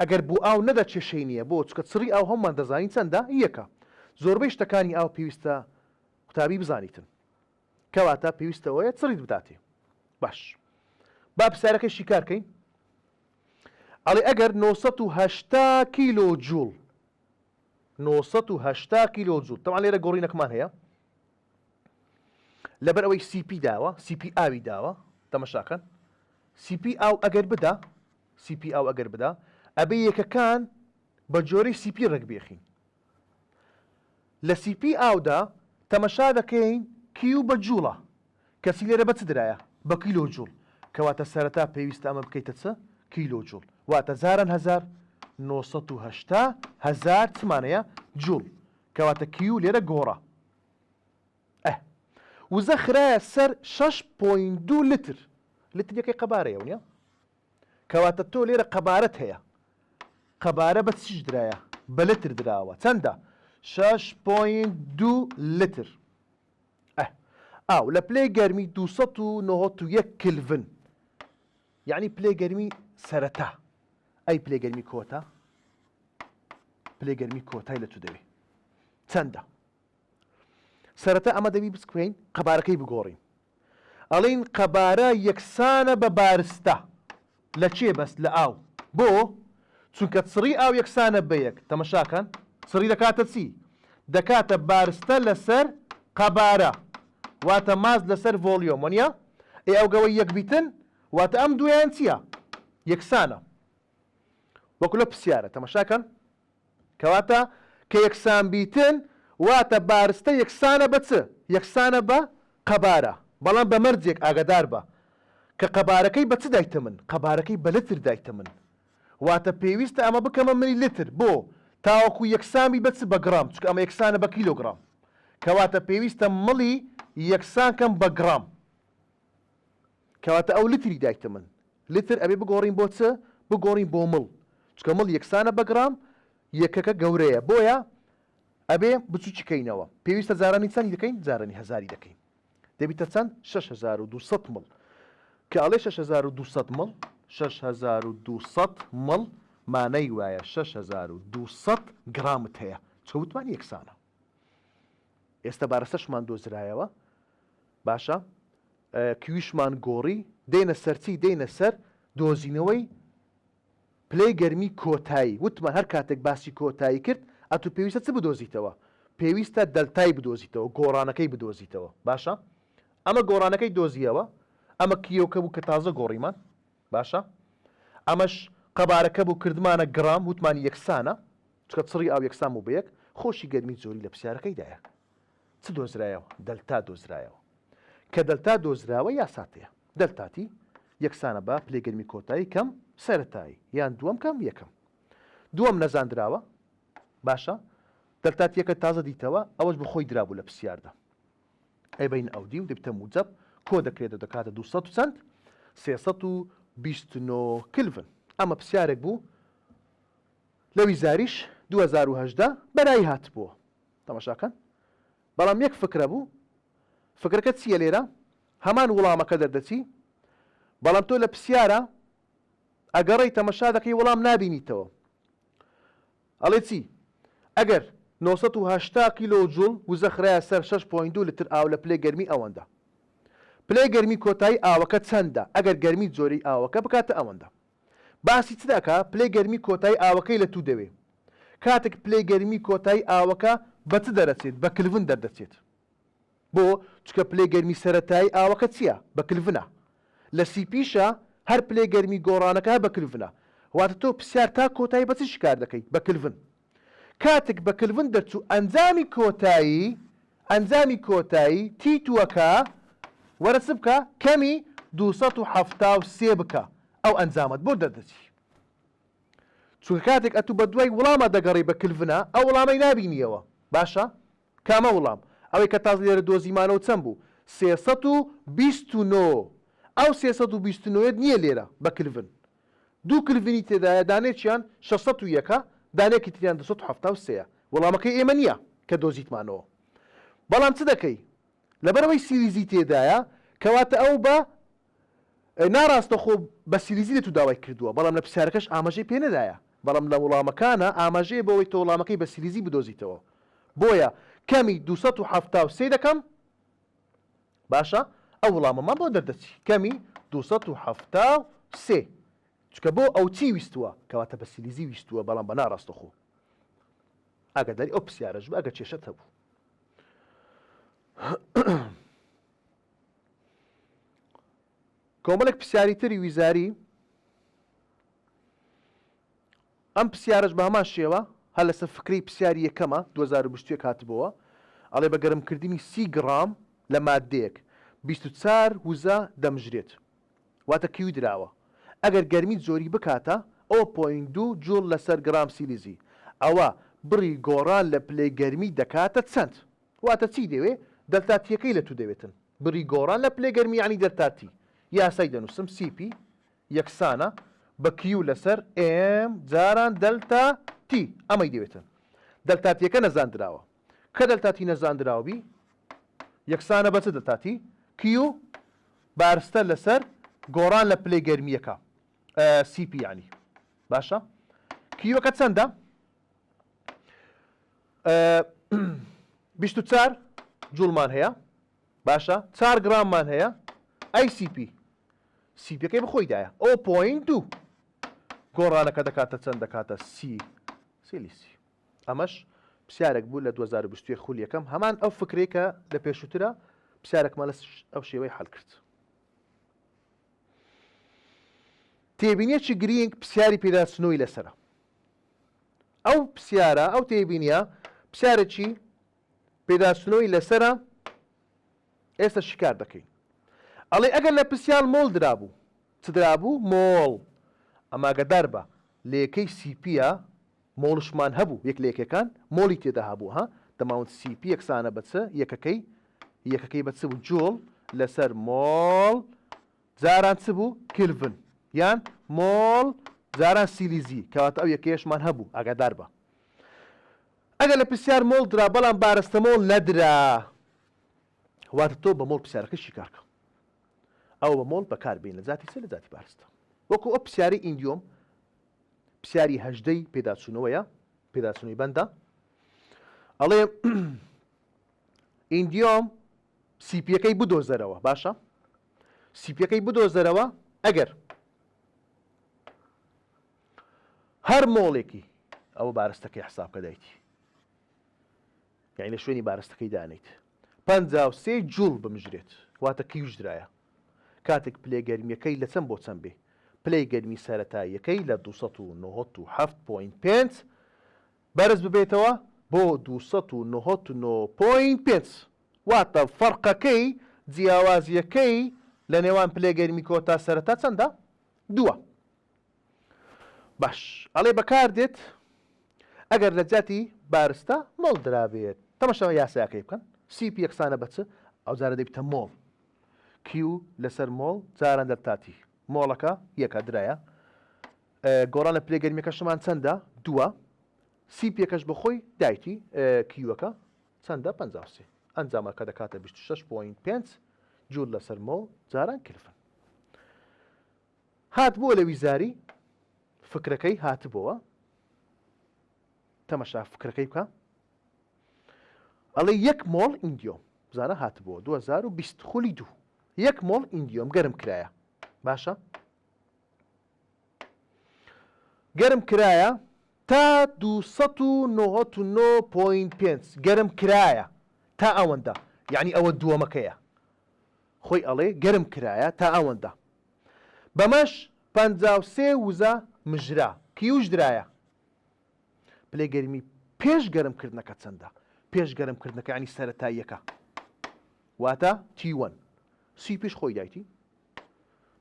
ئەگەر بۆ ئاو نەدا کێشەی نییە بۆ چکە چڕی ئاو هەموومان دەزانین چەندە یەکە زۆربەی شتەکانی ئاو پێویستە قوتابی بزانیتن کەواتە پێویستە ئەوەیە چڕیت بداتێ باش با پرسیارەکەی شیکار کەین ئەڵێ ئەگەر 980 کیلۆ جوڵ نۆ سەد و هەشتا کیلۆ جوول تەوان لێرە گۆڕینەکمان هەیە لەبەر ئەوەی سی پی داوە سی پی ئاوی داوە تەمەشاکەن سی پی ئاو ئەگەر بدا سی پی ئاو ئەگەر بدا ئەبێ یەکەکان بە جۆرەی سی پی ڕێک بێخین لە سی پی ئاودا تەمەشا دەکەین کیو بە جووڵە کەچی لێرە بە چ درایە؟ بە کیلۆ جوڵ، کەواتە سەرەتا پێویستە ئەمە بکەیتە چ؟ کیلۆ جوڵ، واتە جاران هەزار، نۆ سەد و هەشتا هەزار چمان هەیە؟ جوڵ، کەواتە کیو لێرە گۆڕا. ئه وزە خرایە سەر شەش پۆینت دوو لتر، لتر یەکەی قەبارەیە ونیە؟ کەواتە تۆ لێرە قەبارەت هەیە، قەبارە بە چیش درایە؟ بە لتر دراوە، چەندە؟ شەش پۆینت دوو لتر. ئه. ئاو لە پلەی گەرمی دوو سەد و نەوەت و یەک کلڤن یانی پلەی گەرمی سەرەتا ئەی پلەی گەرمی کۆتا پلەی گەرمی کۆتای لە چ دەوێ چەندە سەرەتا ئەمە دەبی بسکوێین قەبارەکەی بگۆڕین ئەڵین قەبارە یەکسانە بە بارستە لە کێ بەس لە ئاو بۆ چونکە چڕی ئاو یەکسانە بە یەک تەمەشا کەن چڕی دەکاتە چی دەکاتە بارستە لەسەر قەبارە واتە ماس لەسەر ڤۆڵیۆم وەنیە ئێ ئەو گەوەی یەک بیتن واتە ئەم دویان چیە یەکسانە وەکو لە پسیارە تەمەشا کەن کەواتە کە یەکسان بیتن واتە بارستە یەکسانە بە چ؟ یەکسانە بە قەبارە، بەڵام بە مەرجێک ئاگادار بە کە قەبارەکەی بە چ دایتەمن؟ قەبارەکەی بە لتر دایتەمن. واتە پێویستە ئەمە بکەمە ملی لتر بۆ؟ تاوەکو یەکسان بی بە چ؟ بە گڕام، چونکە ئەمە یەکسانە بە کیلۆگڕام. کەواتە پێویستە ملی یەکسان کەم بە گڕام. کەواتە ئەو لتری دایکتە من لتر ئەبێ بگۆڕین بۆ چ؟ بگۆڕین بۆ مڵ چونکە مڵ یەکسانە بە گڕام یەکەکە گەورەیە بۆیە ئەبێ بچوکی کەینەوە پێویستە جارانی چەندی دەکەین جارانی هەزاری دەکەین دەبیتە چەند 6200 مڵ کە ئەڵێ 6200 مڵ 6200 مڵ مانای وایە 6200 گرامت هەیە چەوتمان یەکسانە ئێستا بارەسەشمان دۆزرایەوە باشە کیویشمان گۆڕی، دێینە سەر چی؟ دێینە سەر دۆزینەوەی پلەی گەرمی کۆتایی، وتمان هەر کاتێک باسی کۆتایی کرد، ئەتوو پێویستە چ بدۆزیتەوە؟ پێویستە دەلتای بدۆزیتەوە، گۆڕانەکەی بدۆزیتەوە، باشە؟ ئەمە گۆڕانەکەی دۆزییەوە، ئەمە کییۆکە بوو کە تازە گۆڕیمان، باشە؟ ئەمەش قەبارەکە بوو کردمانە گڕام، وتمان یەکسانە، چونکە چڕی ئاو یەکسان بوو بە یەک، خۆشی گەرمی جۆری لە پرسیارەکەیدایە. چ دۆزرایەوە؟ دەلتا دۆزرایەوە. کە دەلتا دۆزراوە یاسات هەیە. دەلتا تی یەکسانە بە پلەی گەرمی کۆتایی کەم سەرەتایی یان دووەم کەم یەکەم. دووەم نەزاندراوە. باشە دەلتا تیەکە تازە دیتەوە ئەوەش بە خۆی درابوو لە پرسیاردا. ئەی بین ئەو دی و دەبیتە موجەب کۆ دەکرێت و دەکاتە دوو سەد و چەند؟ سێ سەد و بیست و نۆ کلڤن. ئەمە پرسیارێک بوو لە ویزاریش دوو هەزار و هەژدە بەرایی هاتبووە. تەماشا کەن بەڵام یەک فکرە بوو فکرەکە چیە لێرە هەمان وڵامەکە دەردەچی بەڵام تۆ لە پسیارە ئەگەڕێی تەمەشا دەکەی وڵام نابینیتەوە ئەڵێ چی ئەگەر 980 کیلۆ جوڵ وزە خراە سەر 6.2 لتر ئاو لە پلەی گەرمی ئەوەندە پلەی گەرمی کۆتایی ئاوەکە چەندە ئەگەر گەرمی جۆری ئاوەکە بکاتە ئەوەندە باسی چ دەکا پلەی گەرمی کۆتایی ئاوەکەی لە توو دەوێ کاتێک پلەی گەرمی کۆتایی ئاوەکە بە چ دەرەچێت بە کلڤن دەردەچێت بۆ چکە پلەی گەرمی سەرەتایی ئاوەکە چیە بە کلڤنە لە سی پیشە هەر پلەی گەرمی گۆڕانەکە بە کلڤنە واتە تۆ پسیار تا کۆتایی بە چ شکار دەکەی بە کلڤن کاتک بە کلڤن دەرچوو ئەنجامی کۆتایی، ئەنجامی کۆتایی، تیتووەکە، وەرە چ بکە؟ کەمی دوو سەد و حەفتا و سێ بکە، ئەو ئەنجامەت بۆ دەردەچی. چونکە کاتێک ئەتوو بە دوای وڵاما دەگەڕێی بە کلڤنا، ئەو وڵامەی نابینییەوە. باشە؟ کامە وڵام؟ ئەوەی کە تازە لێرە دۆزیمانەوە چەند بوو؟ سێ سەد و بیست و نۆ. ئەو سێ سەد و بیست و نۆیەت نییە لێرە، بە کلڤن. دوو کلڤنی تێدایە دانەیەکیان شەش سەد و یەکە دانەیەکی تریان دوو سەد و حەفتا و سێیە وەڵامەکەی ئێمە نیە کە دۆزیتمانەوە بەڵام چ دەکەی لەبەرئەوەی سیریزی تێدایە کەواتە ئەو بە ناڕاستەخۆ بە سیریزی لە تو داوای کردوە بەڵام لە پرسیارەکەش ئاماژەی پێ نەدایە بەڵام لە وڵامەکانا ئاماژەیە بەوەی تۆ وڵامەکەی بە سیریزی بدۆزیتەوە بۆیە کەمی دوو سەد و حەفتا و سێ دەکەم باشە ئەو وڵامەمان بۆ دەردەچی کەمی دوو سەد و حەفتا و سێ چکە بۆ ئەو چی ویستووە کەواتە بە سیلیزی ویستووە بەڵام بە ناڕاستەخۆ ئاگاداری ئەو پرسیارەش بە ئەگە کێشەت هەبوو کۆمەڵێک پرسیاری تری ویزاری ئەم پرسیارەش بە هەمان شێوە هەر لەسەر فکرەی پرسیاری یەکەمە دوو هەزار و بیست و یەک هاتبۆوە ئەڵێ بە گەرمکردنی سی گڕام لە ماددەیەک بیست و چار وزە دەمژرێت واتە کیو دراوە ئەگەر گەرمی جۆری بکاتە ئەو پۆینت دوو جوڵ لەسەر گڕام سیلیزی ئەوا بڕی گۆڕان لە پلەی گەرمی دەکاتە چەند؟ واتە چی دەوێ دەلتا تیەکەی لە تو دەوێتن بڕی گۆڕان لە پلەی گەرمی یانی دەلتا تی یاسای دەنوسم سی پی یەکسانە بە کیو لەسەر ئێم جاران دەلتا تی ئەمەی دەوێتە دەلتا تیەکە نەزاندراوە کە دەلتا تی نەزاندراوە بی یەکسانە بە چ دەلتا تی کیو بارستە لەسەر گۆڕان لە پلەی گەرمیەکە سی پی یانی باشە کیوەکە چەندە بیست و چار جوڵمان هەیە باشە چار گراممان هەیە ئەی سی پی سی پێکەی بخۆی دایە ئۆ پۆین دوو گۆڕانەکە دەکاتە چەند دەکاتە سی سیلیسی ئەمەش پرسیارێک بوو لە 2020 خول یەکەم هەمان ئەو فکرێکە لە پێشووترە پرسیارێکمان لە ئەو شێوەی حل کرد تێبینیەکی گرینگ پرسیاری پێداچنەوەی لەسرە ئەو پرسیارە ئەو تێبینە پرسیارێکی پێداچنەوەی لەسەرە ئێستا شیکار دەکەین ئەڵێ ئەگەر لە پرسیال مۆڵ درابوو چ درابوو مۆڵ ئەماگەدار بە لەیەکەی سیپیە مۆڵشمان هەبوو یەک لەیەکەکان مۆڵی تێدا هەبوو ها دەماوند سیپی یەکسانە بە چ یەکەکەی یەکەکەی بە چ بوو جۆڵ لەسەر مۆڵ جاران چ بوو کلڤن یان مۆڵ جاران سیلیزی کەواتە ئەو یەکەیەشمان هەبوو ئاگادار بە ئەگەر لە پرسیار مۆڵ درا بەڵام بارستە مۆڵ نەدرا واتە تۆ بە مۆڵ پرسیارەکە شیکارکە ئەو بە مۆڵ بەکار بین لە جاتی سێ لە جاتی بارستە وەکو ئەو پرسیاری ئیندیۆم پرسیاری هەژدەی پێداچوونەوەیە پێداچوونەی بەندە ئەڵێ ئیندیۆم سیپیەکەی بدۆزەرەوە باشە سیپیەکەی بدۆزەرەوە ئەگەر هەر مۆڵێکی ئەوە بارستەکەی حساب کە دایتی یعنی لە شوێنی بارستەکەی دانیت پەنجا و سێ جوڵ بمژرێت واتە کیژدرایە کاتێک پلێ گەرمیەکەی لە چەند بۆ چەند بێ پلەی گەرمی سەتاییەکەی لە 1970.5 بەرز ببێتەوە بۆ 1995 واتە فەرقەکەی جیاوازیەکەی لە نێوان پلێگەرمی کۆتا سەرەتا چەندە؟ دووە. باش ئەڵێ بەکار دێت ئەگەر لە جاتی بارستە مۆڵ درابێت تەمەشەوە یاساکەی بکەن سی پی یەکسانە بەچ ئەو جارە دەبیتە مۆڵ کیو لەسەر مۆڵ جاران دەرتاتی مۆڵەکە یەکە درایە گۆڕان لە پلێگەرمیەکەشمان چەندە دووە سی پێکەش بەخۆی دایتی کیوەکە چەندە پ ئەنجامەکە دەکاتە 26.5 جوور لەسەر مۆڵ جاران کلفن هاتبووە لە ویزاری فکرەکەی هاتبۆوە تەمەشا فکرەکەی بکە ئەڵێ یەک مۆڵ ئینگیۆم زانە هاتبووە 2020 خولی دوو یەک مۆڵ ئینگیۆم گەرم کرایە باشە گەرم کرایە تا 299.5 گەرم کرایە تا ئەوەندە یعنی ئەوە دووەمەکەیە خۆی ئەڵێ گەرم کرایە تا ئەوەندە. بەمەش پەنجا و سێ وزە مژرا، کیوش درایە. پلەی گەرمی پێش گەرم کردنەکە چەندە؟ پێش گەرم کردنەکە یانی سەرەتاییەکە. واتە تی وەن. سی پیش خۆی دایتی.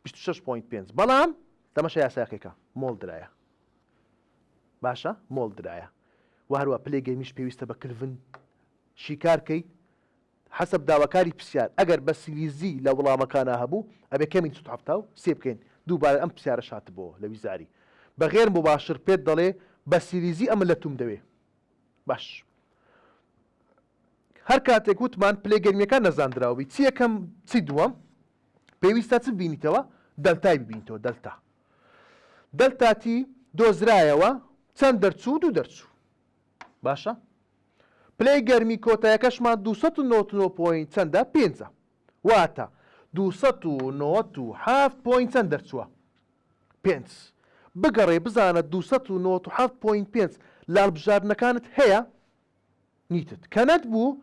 بیست و شەش پۆینت پێنج. بەڵام تەمەشا یاساکێکە. مۆڵ درایە. باشە مۆڵ درایە. و هەروە پلەی گەرمیش پێویستە بە کلڤن شیکار کەی حەسەب داواکاری پرسیار ئەگەر بە سلیزی لە وڵامەکانا هەبوو ئەبێ کەمین سوت حەفتا و سێ بکەین دووبارە ئەم پرسیارەش هاتبۆوە لە ویزاری بە غێر موباشر پێت دەڵێ بە سلیزی ئەمە لە توم دەوێ باش هەر کاتێک وتمان پلەی گەرمیەکان نەزاندراو بی چی یەکەم چی دووەم پێویستە چ بینیتەوە دەلتای ببینیتەوە دەلتا دەلتاتی دۆزرایەوە چەند دەرچوو دوو دەرچوو باشە پلەی گەرمی کۆتایەکەشمان دوو سەد و نەوەت و نۆ پۆین چەندە پێنجە واتە دوو سەد و نەوەت و حەفت پۆین چەند دەرچووە پێنج بگەڕێ بزانە دوو سەد و نەوەت و حەفت پۆین پێنج لالبژاردنەکانت هەیە نیتت کە نەتبوو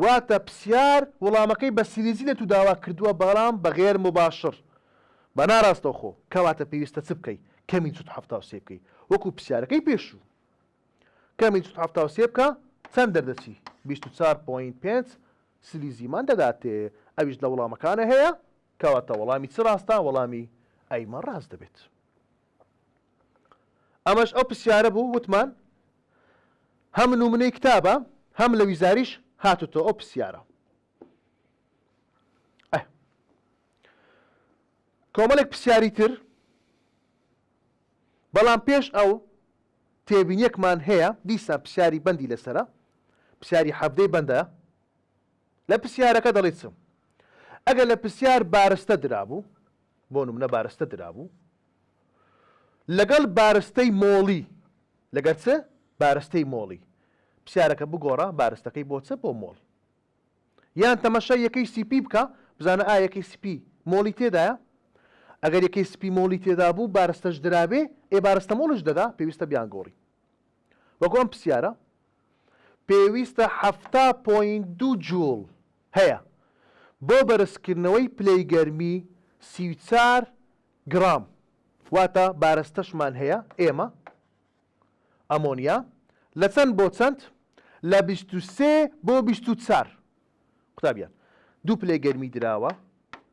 واتە پسیار وەڵامەکەی بە سیریزی لە تو داوا کردووە بەڵام بە غێر مباشر بە ناراستەوخۆ کەواتە پێویستە چ بکەی کەمی چوت حەفتا و سێ بکەی وەکو پسیارەکەی پێشوو کەمی دوو سەد و حەفتا و سێ بکە چەند دەردەچی؟ بیست و چوار پۆینت پێنج سلیزیمان دەداتێ ئەویش لە وەڵامەکانە هەیە کەواتە وەڵامی چ ڕاستە وەڵامی ئەی مان ڕاست دەبێت. ئەمەش ئەو پرسیارە بوو وتمان هەم نومنەی کتابە هەم لە ویزاریش هاتوتۆ ئەو پرسیارە. کۆمەڵێک پرسیاری تر بەڵام پێش ئەو تێبینیەکمان هەیە دیسان پسیاری بەندی لەسەرە پسیاری حەڤدەی بەندە لە پسیارەکە دەڵی چم ئەگەر لە پسیار بارستە درابوو بۆ نمونە بارستە درابوو لەگەڵ بارستەی مۆڵی لەگەر چ بارستەی مۆڵی پسیارەکە بگۆڕە بارستەکەی بۆ چ بۆ مۆڵ یان تەمەشای یەکەی سیپی بکە بزانە ئایا یەکەی سپی مۆڵی تێدایە ئەگەر یەکەی سپی مۆڵی تێدا بوو بارستەش درابێ ئێ بارستە مۆڵش دەدا پێویستە بیان گۆڕی وەکو ئەم پرسیارە پێویستە حفتا پوین دو جوڵ هەیە بۆ بەرزکردنەوەی پلەی گەرمی سی و چار گڕام واتە بارستەشمان هەیە ئێمە ئەمۆنیا لە چەند بۆ چەند؟ لە بیست و سێ بۆ بیست و چار. قوتابیان، دوو پلەی گەرمی دراوە،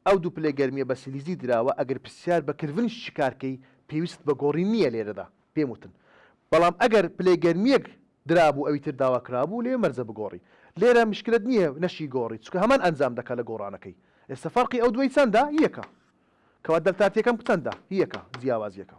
ئەو دوو پلەی گەرمییە بە سیلیزی دراوە، ئەگەر پرسیار بە کلڤن شیکار کەی، پێویستت بە گۆڕین نییە لێرەدا، پێم وتن. بەڵام ئەگەر پلەی گەرمییەک درابوو ئەوی تر داوا کرابوو، لەوێ مەرجە بگۆڕی. لێرە میشکلەت نییە نەشیگۆڕی، چونکە هەمان ئەنجام دەکا لە گۆڕانەکەی. ئێستا فەرقی ئەو دووەی چەندە؟ یەکە. کەوا دەلتا تییەکەم چەندە؟ یەکە، جیاوازییەکە.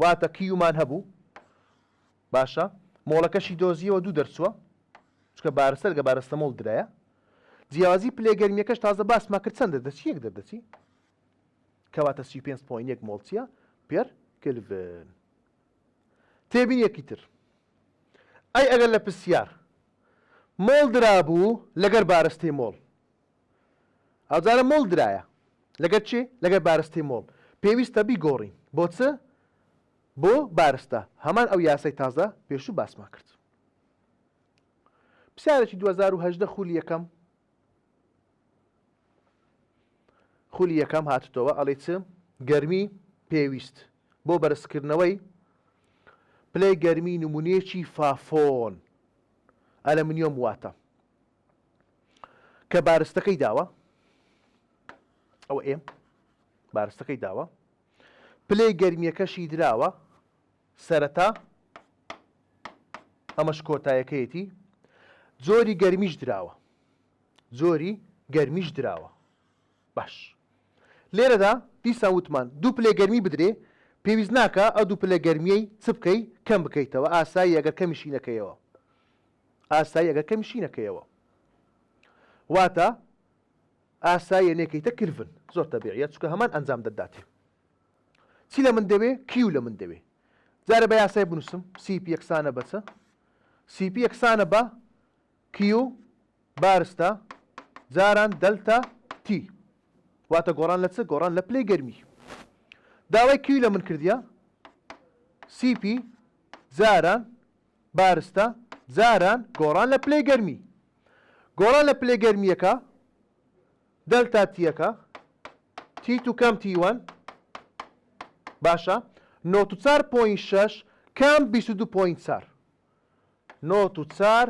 واتە کیومان هەبوو باشە مۆڵەکەشی دۆزیەوە دوو دەرچووە چکە بارستەر گە بارستە مۆڵ درایە جیازی پلێ گەرمیەکەش تازە باس ماکرد چەند دەچی یەک دەردەچی کەواتە سی پێ پوین یەک مۆڵچیە پێر کلڤن تێبین یەکی تر ئەی ئەگەر لە پرسیار مۆڵ درابوو لەگەر بارستەی مۆڵ ئەوجارە مۆڵ درایە لەگەر چی لەگەر بارستەی مۆڵ پێویستە بیگۆڕین بۆ چ بۆ بارستە هەمان ئەو یاسای تازە پێشوو باسمان کرد پرسیارێکی 2010 خولی یەکەم خولی یەکەم هاتتەوە ئەڵێ چ گەرمی پێویست بۆ بەرزکردنەوەی پلەی گەرمی نمونەیەکی فافۆن ئەلەمنیۆم واتە کە بارستەکەی داوە ئەوە ئێم بارستەکەی داوە پلەی گەرمیەکەشی دراوە سەرەتا ئەمەش کۆتایەکەیەتی جۆری گەرمیش دراوە جۆری گەرمیش دراوە باش لێرەدا دیسا وتمان دوو پلێ گەرمی بدرێ پێویست ناکە ئە دوو پلە گەرمیەی چ بکەی کەم بکەیتەوە ئاسایی ئەگەر کەمیشی نەکەیەوە ئاسایی ئەگەر کەمی شی نەکەیەوە واتە ئاساییە نێکەیتە کلڤن زۆر تەبیعیە چکە هەمان ئەنجام دەداتێ چی لە من دەوێ کیو لە من دەوێ جارە بە یاسای بنووسم سیپ یەکسانە بەچە سیپ یەکسانە بە کیو بارستە جاران دەلتا تی واتە گۆڕان لە چ گۆڕان لە پلەی گەرمی داوای کیو لە من کردیا سیپی جاران بارستە جاران گۆڕان لە پلەی گەرمی گۆڕان لە پلەی گەرمییەکە دەلتا تیەکە تی تو کەم تیوەن باشە نۆت و چار پۆین شەش کەم بیست و دوو پۆین چار نۆت و چار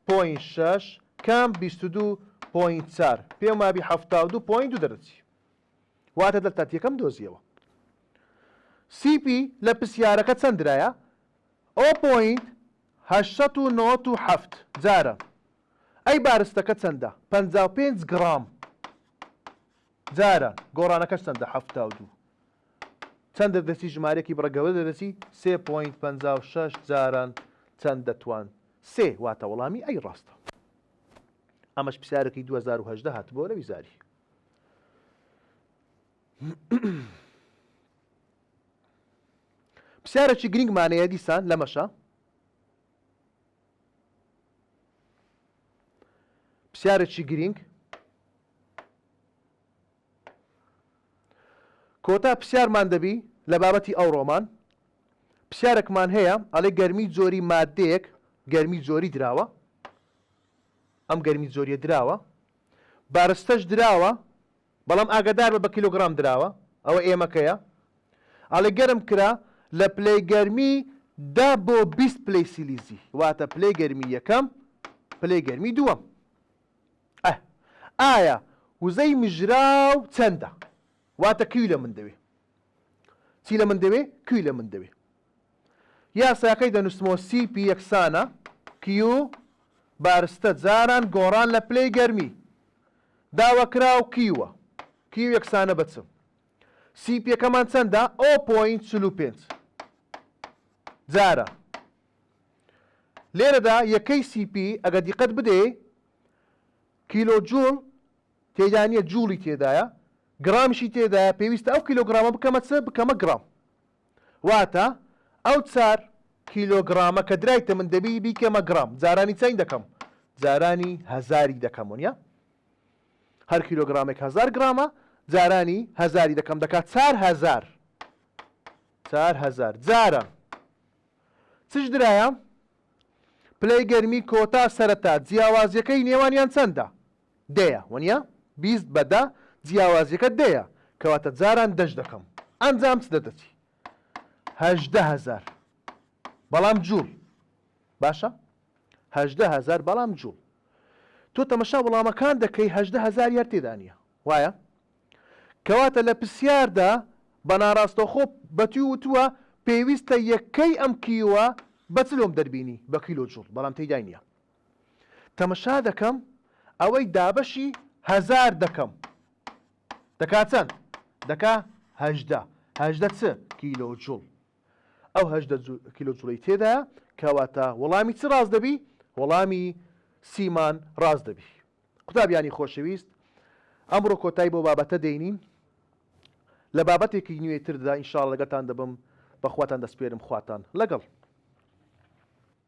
پۆین شەش کەم بیست و دوو پۆین چار پێم وابی حەفتا و دوو پۆین دوو دەرەچی واتە دەلتا تیەکەم دۆزیەوە سیپی لە پرسیارەکە چەندرایە ئۆ پۆینت هەشت سەد و نەوەد و حەفت جارە ئەی بارستەکە چەندە پەنجا و پێنج گڕام جارە گۆڕانەکەش چەندە حەفتا و دوو چەند دەردەچی ژمارەکی بڕگەوە دەردەچی سێ پۆینت پەنجا و شەش جاران چەند دەتوان سێ واتە وەڵامی ئەی ڕاستە ئەمەش پرسیارەکەی دوو هەزار و هەژدە هاتبووە لە ویزاری پرسیارێکی گرنگمان هەیە دیسان لەمەشە پرسیارێکی گرنگ کۆتا پرسیارمان دەبی لە بابەتی ئەو ڕۆمان پرسیارێکمان هەیە ئەڵێ گەرمی جۆری مادەیەک گەرمی جۆری دراوە ئەم گەرمی جۆریە دراوە بارستەش دراوە بەڵام ئاگەداربە بە کیلۆگڕام دراوە ئەوە ئێمەکەیە ئەڵێ گەرم کرا لە پلەی گەرمی دە بۆ بیست پلەی سیلیزی واتە پلەی گەرمی یەکەم پلەی گەرمی دووەم ئە ئایا وزەی مژراو چەندە واتە کیوی لە من دەوێ چی لە من دەوێ کوی لە من دەوێ یاساکەی دەنووسمەوە سی پی یەکسانە کیو بارستە جاران گۆڕان لە پلەی گەرمی داوەکراو کیوە کیو یەکسانە بە چ سی پیەکەمان چەندە ئۆ پۆین چل و پێنج جارە لێرەدا یەکەی سی پی ئەگە دیقەت بدەی کیلۆ جوڵ تێدانە جوڵی تێدایە گرامشی تێدایە پێویستە ئەو کیلۆگرامە بکەمە چ بکەمە گرام واتە ئەو چار کیلۆگڕامە کە درایتە من دەبی بیکەمە گڕام جارانی چەند دەکەم جارانی هەزاری دەکەم ونە هەر کیلۆگرامێک هزار گرامە جارانی هزاری دەکەم دەکات چار هزار چار هزار جارە چش درایە پلەی گەرمی کۆتا سەرەتا جیاوازیەکەی نێوانیان چەندە دەیە وەنیا بیست بە دە جیاوازیەکە دەیە کەواتە جاران دەش دەکەم ئەنجام چ دەدەچی هەژدە هەزار بەڵام جوڵ باشە هەژدە هەزار بەڵام جوڵ تۆ تەمەشا وڵامەکان دەکەی هەژدە هەزار یار تێدانە وایە کەواتە لە پرسیاردا بە ناڕاستەخۆ بەتی وتووە پێویستە یەکەی ئەم کیوە بەچلۆم دەربینی بە کیلۆ جوڵ بەڵام تێدای نیە تەمەشا دەکەم ئەوەی دابەشی هەزار دەکەم دەکا چەند دەکا هەژدە هەژدە چ کیلۆ جوڵ ئەو هەژدە کیلۆ جوڵی تێدا کەواتە وەڵامی چ ڕاست دەبی وەڵامی سیمان ڕاست دەبی قوتابیانی خۆشەویست ئەمڕۆ کۆتای بۆ بابەتە دێنین لە بابەتێکی نوێ تردا ئینشاڵ لەگەتان دەبم بەخواتان دەسپێرم خواتان لەگەڵ